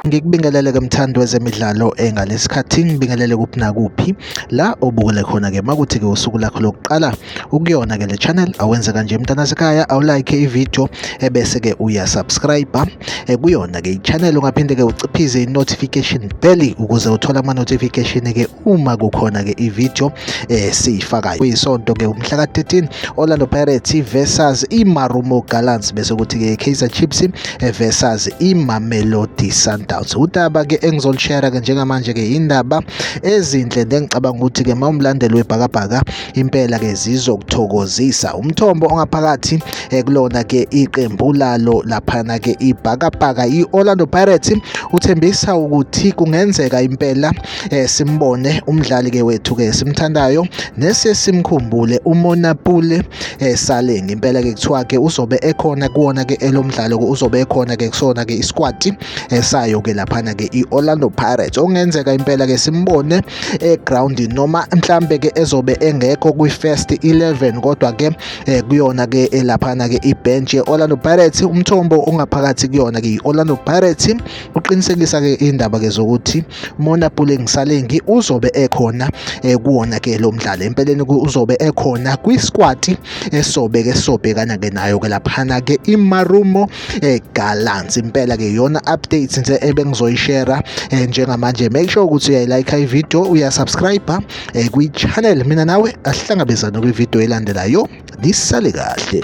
Ngikubingelele ke mthandi wezemidlalo eh, ngalesikhathi ngibingelele kuphi nakuphi la obukele khona ke makuthi ke usuku lakho lokuqala ukuyona ke le channel awenze kanje mntana sekhaya awulike ivideo ebese ke uya subscribe eh, kuyona ke ichannel ungaphinde ke uciphize inotification bell ukuze uthole ama notification ke uma kukhona ke ivideo eh siyifakayo kuyisonto ke umhla ka-13 Orlando Pirates versus iMarumo Gallants bese kuthi ke Kaizer Chiefs eh, versus iMamelodi Sundowns udaba ke engizolishare ke njengamanje ke indaba ezinhle ngicabanga ukuthi ke mawumlandeli webhakabhaka impela ke zizokuthokozisa umthombo ongaphakathi eh, kulona ke iqembu lalo laphana ke ibhakabhaka i-Orlando Pirates uthembisa ukuthi kungenzeka impela eh, simbone umdlali ke wethu ke simthandayo nesesimkhumbule umona pule eh, salengi impela ke kuthiwa ke uzobe ekhona kuwona ke elomdlalo ke uzobe ekhona ke kusona ke isquad eh, sayo ke laphana ke iOrlando Pirates ongenzeka impela ke simbone eground noma mhlambe ke ezobe engekho kwi first 11 kodwa ke eh, kuyona ke elaphana ke ibench yeOrlando Pirates umthombo ongaphakathi kuyona ke iOrlando Pirates uqinisekisa ke indaba ke zokuthi Mona Puleng Salengi uzobe ekhona eh, kuwona ke lo mdlalo empeleni uzobe ekhona kwisquad esobe ke sobhekana ke nayo ke laphana ke iMarumo eh, Gallants impela ke yona updates nje ebengizoyishare eh, njengamanje make sure ukuthi uyayilike ivideo uyasubscribe kwi channel mina nawe asihlangabezane kwi video elandelayo lisale kahle